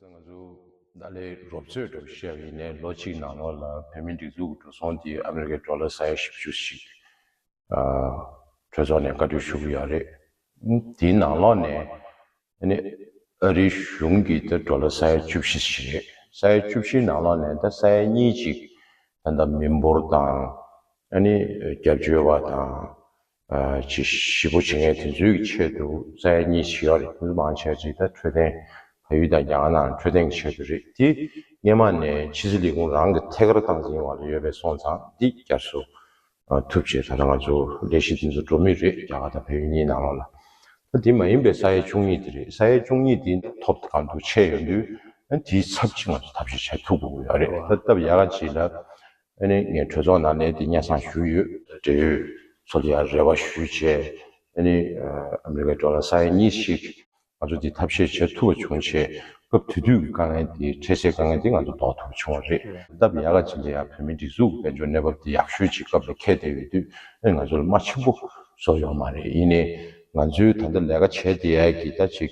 སང་ང་ཚོ་ཏཱ་ལའི་རོབ་རྩོད་འགྲོ་བཤད་པ་ཡིན་ནའི་ལོ་གཅིག་ནང་ལོགས་ལ་བོད་མི་སྒྲིག་འཛུགས་ཀྱི་འགྲོ་སོང་དེ་ཨ་མི་རི་ཀའི་འགྲོ་ལ་ས་ཡ་བཞི་བཅུ་ཞིག་གྲོས་ཚོགས་ནས་བཀའ་འཁྲོལ་ཞུ་གི་ཡོད་རེད། དེའི་ནང་ལོགས་ནས་ཨ་རིའི་གཞུང་གི་ད་འགྲོ་ལ་ས་ཡ་བཅུ་བཞི་ཞིག་རེད། ས་ཡ་བཅུ་བཞི་ནང་ལོགས་ནས་ད་ས་ཡ་གཉིས་ཅིག་ད་མི་འབོར་དང་ཨ་ནི་རྒྱབ་སྐྱོར་བ་དང་བྱེད་བཞི་པོ་བྱེད་ངེས་དེ་ཚོའི་གི་ཆེད་དུ་རྩྭ་ཡ་གཉིས་བྱེད་ཡོག་རེད་དེ་ཚོ་མང་ཆ་རེད་ད་འཕྲོད་བསྟེན་ཕ་ཡུལ་དང་རྒྱ་གར་ནང་འཕྲོད་བསྟེན་གི་ཆེད་དུ་རེད་དེ་སྙེ་མ་ནས་ཕྱི་ཚེ་ལས་ཁུང་རང་གི་ཐད་ཀར་བཏང་ཟིན་བ་ལ་ཡོད་པའི་སོང་ཙང་འདི་བསྐྱར་བཟོ་ཐུབ་བྱེད་ད་ལྟ་ང་ཚོ་ལས་གཞི་དེ་ཚོ་འགྲོ་མུས་རེད་རྒྱ་གར་དང་ཕ་ཡུལ་གཉིས་ནང་ལོག་ལ་ད་དེ་མ་ཡིན་པའི་རྩྭ་ཡ་བཅུ་གཉིས་དེ་རེད་རྩྭ་ཡ་བཅུ་གཉིས་དེ་ཐོབ་གང་འདུག་ཆད་ཡོག་འདུག་དེའི་ཚབ་ཅིག་ང་ཚོ་ཐབས་ཤེས་བྱ་ཐུབ་དགོས་ཡོག་རེད་ད་སྟབས་ཡག་ག་ཅིག་ལ་དངོས་གནས་ངས་གྲོས་ཚོགས་ནང་གནས་དེ་གཉའ་སང་ཞུས་ཡོད། འབྲེལ་ཡོད་ཚོགས་ཀྱི་ཡང་རེ་བ་ཞུས་བྱས། ཨ་མེ་རི་ཀའི་འགྲོ་ལ་ས་ཡ་གཉིས་ཤིག། ང་ཚོ་དེ་ཐབས་ཤེས་བྱེད་ཐུབ་པ་བྱུང་ཆེད་སྐབས་དེ་དུས་ཀྱི་དཀའ་ངལ་དེ་འཕྲད་སའི་དཀའ་ངལ་དེ་ང་ཚོ་ཟློག་ཐུབ་པ་བྱུང་བ་རེད། ད་བི་ཡ་ལ་ཇི་འདྲ་ཡང་བོད་མིའི་སྒྲིག་འཛུགས་ཀྱི་དཔལ་འབྱོར་གནས་བབ་དེ་ཡག་ཤོས་ཅིག་སྐབས་ལས་ཁད་བསྡད་ཡོད་དུས་ཨེ་ང་ཚོ་ལ་རྨ་ཆེན་པོ་བཟོ་ཡོང་མ་རེད་ཡིན་ནའི། ང་ཚོས་ད་ལྟ་ལས་ཀ་བྱས་དེ་ཡས་ཀྱི་ད་ཅིག་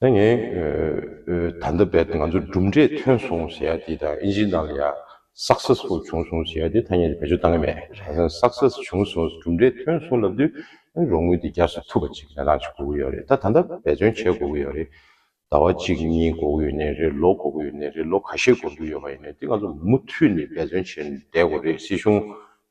ད་ངས་ད་ལྟ་བས་ང་ཚོར་གྲུབ་འབྲས་ཐོན་སོང་ཟེར་ཡག་འདི་དང་ཨིན་ཇིའི་ནང་ལ་ཡང Success ཧོ་བྱུང་སོང་ཟེར་ཡག་འདི་ཐ་སྙད་འདི་བེད་སྤྱོད་གཏང་གི་མེད། རང་སངས Success བྱུང་སོང་གྲུབ་འབྲས་ཐོན་སོང་ལབ་དུས་རོགས་དངུལ་འདི་རྒྱག་སོ་ཐུབ་པ་ཅིག་གནས་སྟངས་ཅིག་གོ་གི་ཡོད་རེད་ད་ད་ལྟ་འབད་བརྩོན་བྱས་གོ་གི་ཡོད་རེད། ཟླ་བ་གཅིག་གཉིས་གོ་གི་ཡོད་ནས་རེད་ལོ་གོ་གི་ཡོད་ནས་རེད་ལོ་ག་ཤེད་གོ་འདུག་ཡོད་པ་ཡིན་ནས་འདི་ང་ཚོ་མུ་མཐུད་ནས་འབད་བརྩོན་བྱས་ནས་བསྡད་གོ་རེད་སྲིད་གཞུང་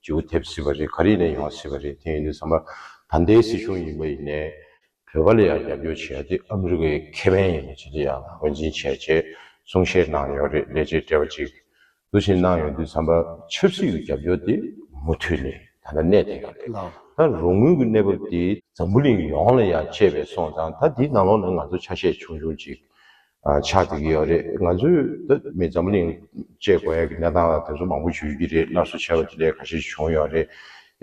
ཇེའུ་ཐེབས་སྲིད་པ་རེད་ག་རེ་ཡིན་ན་ཡོང་སྲིད་པ་རེད་དེ་ཡིན་དུས་ཚང་མ་ད་ལྟའི་སྲིད་གཞུང་ཡིན་པ་ཡིན་ནས། བོད་པ་ལ་ཡང་རྒྱབ་སྐྱོར་བྱས་ཏེ་ཨ་མི་རི་ཀའི་ཁེ་ཕན་ཡིན་པ་ཇི་འདྲ་ཡང་ངོས་འཛིན་བྱེད་ཅེས་གསུང་བཤད་གནང་ཡོད་རེད་ལས་བྱེད་བཀྲ་བྷ་ཅིག་གིས་ཞིག་གནང་ཡོད་དུས་བསམ་པ། ཆབ་སྲིད་ཀྱི་རྒྱབ་སྐྱོར་དེ་མུ་མཐུད་ནས་ད་ལྟ་གནས་བསྡད་ཡོད་རེད་ད་རུང་དངུལ་གྱི་གནས་བབ་དེ་འཛམ་བུ་གླིང་ཡོངས་ལ་ཡང་གཅེས་པའི་སོང་ཙང་ད་དེའི་ནང་ལོགས་ནས་ང་ཚོ་ཆ་ཤས་ཆུང་ཆུང་ཅིག་ཆགས་ཀྱི་ཡོད་རེད། ང་ཚོས་ད་མི་འཛམ་གླིང་བཅས་གོ་ཡ་གི་གནས་སྟངས་ལ་དེ་ཚོ་མང་པོ་བརྗོད་ཀྱི་རེད་སླར་གསོ་བྱས་པ་དེ་ལས་ག་ཤེད་བྱུང་ཡོད་རེད།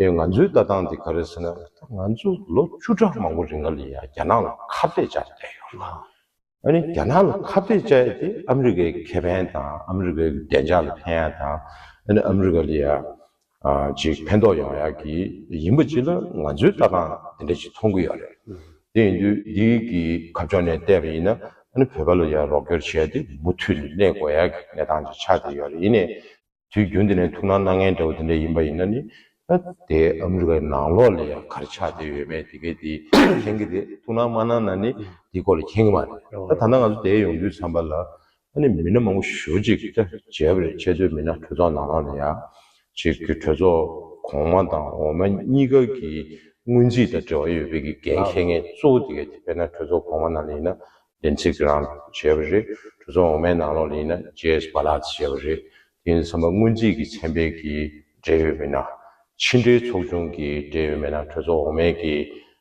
ཨེ་ང་ཚོའི་ལྟ་སྟངས་དེ་ག་རེད་ཟེར་ན། ད་ང་ཚོ་ལོ་བཅུ་ཕྲག་མང་པོ་རིང་ལ་ལི་ཡ་རྒྱ་ནག་ལ་ཁ་བརྡས་བཅར་བསྡད་ཡོད་ལ། ཨ་ནི་རྒྱ་ནག་ལ་ཁ་བརྡས་བཅར་ཡས་དེ་ཨ་མི་རི་ཀའི་ཁེ་ཕན་དང་ཨ་མི་རི་ཀའི་བདེ་འཇགས་ལ་ཕན་ཡ་དང། ཨ་ནི་ཨ་མི་རི་ཀ་ལི་ཡ་ཅིག་ཕན་ཐོགས་ཡོང་ཡ་གི་ཡིན་པ་ཅིག་ལ་ང་ཚོའི་ལྟ་སྟངས་དེ་འདྲ་ཅིག་མཐོང་གི་ཡོད་རེད། དེ་ཡིན་དུས་འདི་གི་ཁ་ཕྱོགས་ནས་བལྟས་པ་ཡིན་ན་ཨ་ནི་བོད་པ་ལ་ཡང་རོགས་སྐྱོར་བྱས་ཏེ་མུ་མཐུད་ནས་གནས་དགོས་ཡ་གི་གནས་སྟངས་ཅིག་ཆགས་བསྡད་ཡོད་རེད་ཡིན་ནའི་དུས་རྒྱུན་དེ་ནས་ཐུགས་སྣང་གནང་མཁན་འདྲ་བོ་དེ་འདྲ་ཡིན་པ་ཡིན་ན་ནི་ཨ་དེ་ཨ་མི་རི་ཀ་ནང་ལོགས་ལ་ཡང་ག་རེ་ཆགས་བསྡད་ཡོད་མེད་དེ་གའི་དེ་མཁྱེན་གི་རེད་ཐུགས་སྣང་མ་གནང་ན་ནི་དེའི་སྐོར་ལ་མཁྱེན་གི་མ་རེད་ད་ད་ལྟ་ང་ཚོ་བསྡད་ཡོང་དུས་བསམ་པ་ལ་ད་ནི་མི་སྣ་མང་པོ་ཞུ་གཅིག་གིས་ཀྱང་བརྗེད་པ་རེད་ཆེ་བསྟོད་མི་སྣ་གྲོས་ཚོགས་ནང་ལ་ཡང་གཅིག་གིས་གྲོས་ཚོགས་གོང་མ་དང་འོག་མ་གཉིས་ཀ་གི་སྔོན་རྩིས་དང་འབྲེལ་བ་ཡོད་པའི་གི་འགན་འཁྱེར་མཁན་གཙོ་བོ་དེ་ག་དེ་དཔེར་ན་གྲོས་ཚོགས་གོང་མ་ནང་ལ་ཡིན་ན་ལིན་ཚེ་ཀེ་རང་བྱས་པ་རེད་གྲོས་ཚོགས་འོག་མའི་ནང་ལོགས་ལ་ཡིན་ན་ཇེ་ཨེས་པ་ལགས་ཀྱིས་བྱས་པ་རེད་དེ་ཡིན་ཚང་མ་སྔོན་རྩིས་ཀྱི་ཚན་པའི་གི་འབྲེལ་ཡོད་མི་སྣ་ཕྱི་འབྲེལ་ཚོགས་ཆུང་གི་འབྲེལ་ཡོད་མི་སྣ་གྲོས་ཚོགས་འོག་མའི་གི་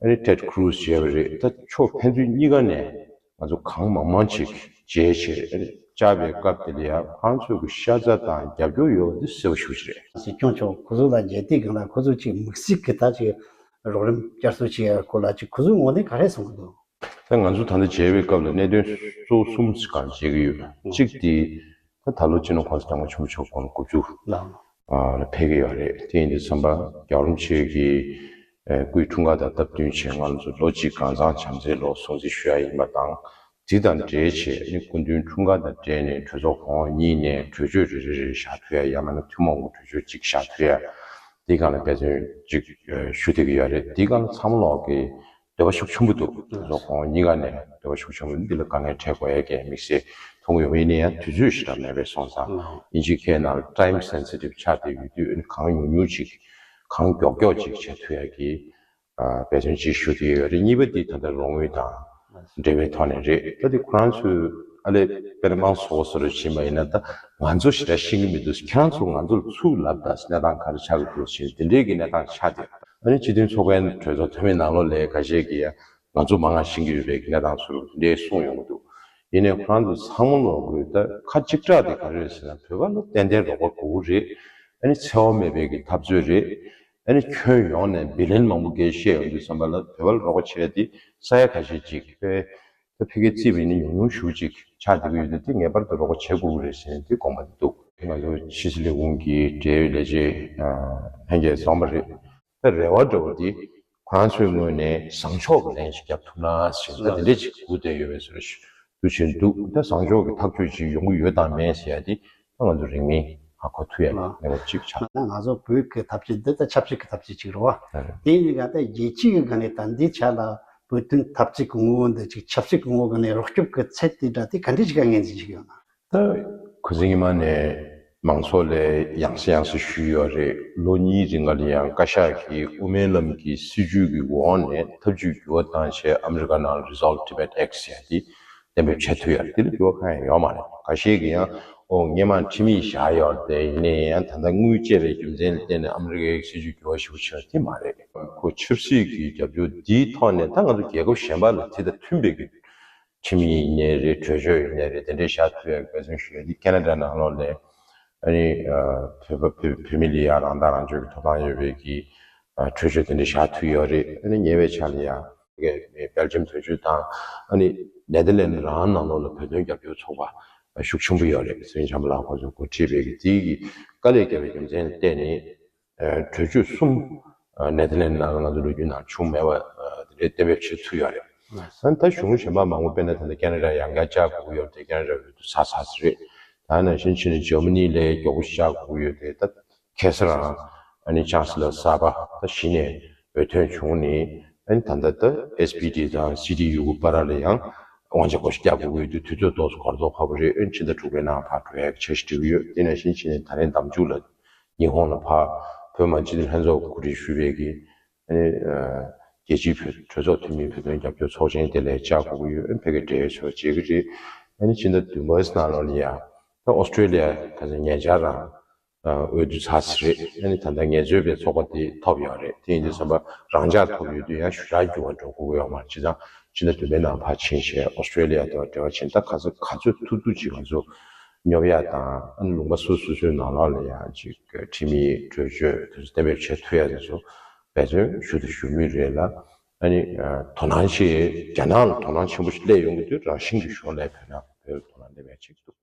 ཨ་རིའི Ted Cruz ཞེས་པ་རེད་ད་ཆོག་ཕན་ཚུན་གཉིས་ཀ་ནས་ང་ཚོ་གང་མང་མང་ཅིག་མཇལ་ཕྱིར་ཨ་རིར་བཅར་བའི་སྐབས་དེ་ལ་ཡང་ཁང་ཚོས་ཀྱི་ཤ་ཚ་དང་རྒྱབ་སྐྱོར་ཡོད་འདི་གསལ་བོ་ཞུ་ཆེད་རེད། སྲིད་སྐྱོང་མཆོག་ཁོ་ཚོ་ལ་མཇལ་དུས་གང་ལ་ཁོ་ཚོ་ཅིག་མུག་ཟིག་གི་ད་ཅིག་རོགས་རིམ་བསྐྱར་གསོ་བྱེད་ཡར་སྐོར་ལ་ཅིག་ཁོ་ཚོའི་ངོ་ནས་ག་རེ་གསུང་གི་འདུག། ད་ང་ཚོ་ད་ལྟ་མཇལ་བའི་སྐབས་ལ་གནད་དོན་གཙོ་བོ་གསུམ་ཞིག་གང་མཇལ་གི་ཡོད་གཅིག་དེ། ཁོས་ད་ལོ་སྤྱི་ནོར་ཁང་དུ་བཏང་བའི་ཆུ་མོ་ཕྱོགས་གོང་ལ་དགུ་བཅུ། ལ། ལ་ཕེབས་ཀྱི་ཡོད་རེད་དེ་ཡིན་དུས་བསམ་པ་རྒྱག་རུང་ཆོས་ཀྱི་སྐུའི་འཁྲུངས་སྐར་དང་སྟབས་བསྟུན་ཆེད་ང་ཚོ་ལོ་གཅིག་གང་བཟང་བྱམས་བརྩེའི་ལོ་སྲུང་བརྩི་ཞུ་ཡ་ཡིན་པ་དང་དེ་དང་འབྲེལ་ཆེད་ནི་སྐུ་མདུན་འཁྲུངས་སྐར་དང་འབྲེལ་ནས་གྲོས་ཚོགས་གོང་འོག་གཉིས་ནས་གྲོས་ཆོད་རེ་རེ་རེ་བཞག་ཕོད་ཡ་ཡང་མ་ན་ཐུན་མོང་གི་གྲོས་ཆོད་གཅིག་བཞག་ཕོད་ཡ་དེ་གང་ལ་འབད་བརྩོན་ཅིག་ཞུ་འདོད་ཀྱི་ཡོད་རེད་དེ་གང་ལ་ཚང་མ་ལོག་གི་འདོད་པ་ཤུགས་ཆེན་པོ་འདུག་ད་དུང་ཁོང་ཉིད་ཀ་ནས་འདོད་པ་ཤུགས་ཆེན་པོ་འདི་ལ་དཀའ་ངལ་འཕྲད་དགོས་ཡས་ཀྱི་དམིགས་བསལ་ཐུགས་འུད་འི་ནི་ཡང་དུས་ཚོད་ཞིག་ལ་མེད་པའི་སོང་ཙང་ཡིན་གཅིག་ཁྱེད་རྣམས Time Sensitive ཆགས་ཏེ་ཡོད་དུས་འི་གང་ཉུང་ཉུང་ཅིག་གང་མགྱོགས་མགྱོགས་ཅིག་བྱས་ཐུབ་ཡས་ཀྱི་འབད་བརྩོན་ཅིག་ཞུ་འདོད་ཡོད་རེད་གཉིས་པ་འདི་ད་ལྟ་རོགས་དངུལ་དང་འབྲེལ་བའི་ཐོག་ནས་རེད་ད་འདི་ཁོ་རང་ཚོའི། ཨ་ལེ། དཔེར་ན་སོ་སོར་བྱིན་པ་ཡིན་ན་ད་ང་ཚོ་ཞེ་དྲག་ཤེས་ཀྱི་མི་འདུག་ཁྱེད་རང་ཚོ་ང་ཚོར་ཚུར་ལབ་ད་གནས་སྟངས་ག་རེ་ཆགས་ཀྱི་འདུག་ཞེས་དེ་འདྲའི་གི་གནས་སྟངས་ཆགས་ཏེ། ཨ་རིའི་སྤྱི་མཐུན་ཚོགས་པའི་གྲོས་ཚོགས་འཐུས་མི་ནང་ལོ་ལེགས་ག་ཤེས་ཀྱིས་ང་ཚོ་མ་ང་ཤེས་ཀྱི་ཡོད་པའི་གི་གནས་སྟངས་ཚུར་དེ་འདྲའི་གསུངས་ཡོང་གི་འདུག་ཡིན་ནའི་ཁོ་རང་ཚོ་ཚང་མ་ལོག་དགོས་ད་ཁ་གཅིག་གྲགས་དེ་ག་རེ་རེད་ཟེར་ན་བོད་པ་ལ་ཏན་ཏན་རོགས་པ་དགོས་ཀྱི་རེད། ཨ་ནི་འཚེ་བ་མེད་པའི་གི་འཐབ་རྩོད་རེད། ཨ་ནི་ཁྱོན་ཡོངས་ནས་བི་ལན་མང་པོ་འགའི་བཤད་ཡོང་དུས་བསམ་པ་ལ་བོད་པ་ལ་རོགས་པ་བྱས་ཏེ་ས་ཡ་ག་ཤེད་ཅིག་གི་དཔེ་ད་ཕི་ཀའི་རྩིས་པ་ཡིན་ན་ཉུང་ཉུང་ཞུ་ཅིག་ཆགས་བསྡད་ཀྱི་ཡོད་དུས་དེ་ངེས་པར་དུ་རོགས་པ་བྱེད་དགོས་ཀྱི་རེད་ཟེར་ནས་དེ་དགོངས་པ་འདུག། ང་ཚོ་ཕྱི་སྲིད་ལས་ཁུངས་ཀྱི་འབྲེལ་ཡོད་ལས་བྱེད་ལྷན་རྒྱས་བཟང་པོ་རེད། ད་རེ་བ་འདྲ་བོ་འདི་ཁོ་རང་ཚོའི་ངོས་ནས་བཟང་ཕྱོགས་ཀྱི་ལན་ཞིག་བརྒྱབ་ཐུབ་ན་ཟེར་ན་དེ་འདྲས་ཅིག་སྒུག་བསྡད་ཡོད་པས་ཟེར་རོ་ཞུ་བྱེད་འདུག་ད་བཟང་ཕྱོགས་ཀྱི་ཐག་གཅོད་ཅིག་ཡོང་གི་ཡོད་དང་མེད་ཟེར་ཡ་དེ་ང་ཚོ་རིང་མིན་ང་ཁོ་ཐུ་ཡ་ལ་ནི་བ་ཅིག་ཆགས། ང་ཚོ་བོད་ཀྱི་ཐབས་ཇུས་འདི་ད་ཆབ་སྲིད་ཀྱི་ཐབས་ཇུས་ཅིག་རེད་བ། དེ་ཡིན་ག་ད་རྒྱལ་སྤྱི་ཡི་ག་ནས་ད་འདི་ཆ་ལ་བོད་དོན་ཐབས་ཇུས་ཀྱི་ངོ་བོ་འདི་ཅིག་ཆབ་སྲིད་ཀྱི་ངོ་བོ་ག་ནས་རོགས་སྐྱོབ་ཀྱི་ཚད་དེ་འདྲ་དེ་ག་འདྲས་ཅིག་ག་ངེས་འཛིན་ཅིག་ཡོད་ན། ད་གུ་ཟིང་ཉི་མ་ནས་མང་ཚོགས་ལས་ཡང་སེ་ཡང་སེ་ཞུས་ཡོད་རེད་ལོ་གཉིས་རིང་ག་ལི་ཡང་བཀའ་ཤག་གིས་དབུ་མའི་ལམ་གྱི་སྲིད་ཇུས་ཀྱི་འོག་ནས་ཐབས་ཇུས་འགྱུར་བ་བཏང་ཆེད་ཨ་མི་རི་ཀ་ནང Resolve Tibet Act ཟེར་ཡ་དེ་གཏན་འབེབས་བྱས་ཐུབ་ཡ་རེད་དེ་ལས་སྐྱོ་བ་གང་ཡང་ཡོད་མ་རེད་ག་ཤེད་ཀྱི་ཡང་ཨོ་སྙེ་མ་ཁྲིམས་ཡིག་བཞག་ཡོད་རེད་དེ་ཡིན་ནའི་ཡང་ད་ལྟ་དངུལ་བཅད་པའི་རྒྱུ་མཚན་ལ་བརྟེན་ནས་ཨ་མི་རི་ཀའི་སྲིད་ཇུས་འགྱུར་བ་ཞིག་པོ་བྱེད་ན་ཐིག་མ་རེད། ཁོ་ཆབ་སྲིད་ཀྱི་རྒྱབ་སྐྱོར་འདིའི་ཐོག་ནས་ད་ང་ཚོ་རྒྱལ་ཁབ་གཞན་པ་ལ་དེ་དང་མཐུན་པའི་གི་ཁྲིམས་ཡིན་ནའི་རེད་གྲོས་ཆོད་ཡིན་ནའི་རེད་དེ་འདྲས་བཞག་ཐུབ་ཡ་གལ་སོང་ཞུ་ཡ་འདི་ཀ་ན་རྡ་ནང་ལོགས་ནས་ཨ་ནི་བོད་པ་བོད་བོད་མི་ལ་ཡང་རང་ཐག་རང་གཅོད་ཀྱི་ཐོབ་ཐང་ཡོད་པའི་གི་གྲོས་ཆོད་དེ་འདྲས་བཞག་ཐུབ་ཡོད་རེད་ཨ་ནི་ཉེ་བའི་ཆ་ལ་ཡང། སྦེལ་ཇམ་དོན་གཅོད་དང། ནེ་ལྡི་ལན་རང་ནང་ལོགས་ལ་བོད་དོན་རྒྱབ་སྐྱོར་ཚོགས་པ་ཤུགས་ཆེན་པོ་ཡོད་རེད་གསེར་འཇམ་པ་ལགས་ཁོང་ཚོའི་འགོ་ཁྲིད་པའི་གི་དེའི་གི་དཀའ་ལས་བརྒྱབ་པའི་རྒྱུ་མཚན་ལ་བལྟས་ནས། གྲོས་ཆོད་གསུམ་ནེ་ལྡི་ལན་ནང་ང་ཚོའི་ལོ་རྒྱུས་ནང་བྱུང་མེད་པ་དེ་འདྲའི་གཏན་འབེབས་བྱས་ཚུལ་ཡོད་རེད། ད་གཞུང་གཞན་པ་མང་པོ་དཔེར་ན་ད་ལྟ་ཀན་ལ་ཀྲ་ཡང་བརྒྱ་བཅག་འགོག་ཡོད་དེ་ཀན་ལ་ཀྲ་འོས་བསྡུ་ཚར་ཚར་ཟེར་རེད། ད་ནང་བཞིན་ཕྱི་ནས་ཇོ་མི་ནི་ལས་བརྒྱ་དགུ་བཅག་འགོག་ཡོད་དེ་ད་གེ་སར་ཨ་ནི་ཆཱ་སི་ལ་གསར་པ་ད་གཞི་ནས་འོས་ཐོན་བྱུང་ནི་ཨ་ནི་ད་ལྟ་ད་ཨེས་པི་ཏི་དང་སི་ཏི་ཡུ་གུ་པ་ར་ལ་ཡང་དབང་ཆ་གོ་ཞི་བརྒྱ་དགུ་འོས་བསྡུ་དུས་ཚོད་ཏོག་སུ་གར་དོག་ཁ་པོ་རེད་ཨ་ནི་ཕྱི་ཟླ་དྲུག་པའི་ནང་ཕར་བོད་ཡག་ཆ་ཞིག་འབྲི་གི་ཡོད་དེ་ནས་ཤིང་ཕྱི་ནས་ད་རེན་འདམ་འཇུག་ལ་ཉི་ཧོང་ལ་ཕར་བོད་མང་སྤྱི་འཐུས་ལྷན་ཚོགས་གོ་སྒྲིག་ཞུས་པའི་གི་ཨ་ནི་རྒྱལ་སྤྱིའི་བོད་གྲོས་ཚོགས་འཐུས་མི་བོད་དོན་རྒྱབ་སྐྱོར་ཚོགས་ཆེན་དེ་ལས་བཅར་གོ་གི་ཡོད་ཨ་ནི་ཕེ་གེ་འབྲེལ་ཡོད་ཚོ་བྱེད་གི་རེད་ཨ་ནི་ཕྱི་ཟླ་བདུན་པའི་སྣ་ལོ་ནི་ཡང་ད་ཨོ་སི་ཀྲི་ལི་ཡ་ད་ཆ་ཉེ་ཆར་རང་འོས་བསྡུ་ཚར་གྱི་རེད་ཡ་ནི་ད་ལྟ་ངལ་རྩོལ་པའི་ཚོགས་པ་དེ་ཐོབ་ཡོད་རེད་དེ་ཡིན་དུས་བསམ་པ་རང་འཇགས་ཐོབ་ཡོད་དུས་ཡང་ཞུ་དག་རྒྱུ་བ་འགྲོ་གོ་ཡོག་མར་བྱེད་ཙང་སྤྱིར་ན་དུ་མའི་ནང་ཕར་ཕྱིན་བྱས Australia དེ་བ་འབྲེལ་བ་བྱེད་ད་ག་ཚོད་ག་ཚོད་ཐུག་ཐུག་ཅིག་ང་ཚོ་སྙོབ་ཡག་དང་ཨ་ནི་ལུང་པ་སུ་སུ་སུའི་ནང་ལག་ལ་ཡང་ཅིག་ཁྲིམས་མིའི་གྲོས་ཆོད་དེ་ཚོ་གཏན་འབེབ་བྱས་ཐུག་ཡག་དེ་ཚོ་འབད་བརྩོན་ཞུ་དང་ཞུ་མུས་རེད་ལ་ཨ་ནི་དོ་སྣང་ཆེ་རྒྱ་ནག་ལ་དོ་སྣང་ཆེན་པོ་ཞིག་སླེབས་ཡོང་གི་དུས་རང་བཞིན་གྱི་ཞོར་ལས་བོད་ནང་བོད་ལ་དོ་སྣང་སླེབས་ཡག་ཅིག་འདུག།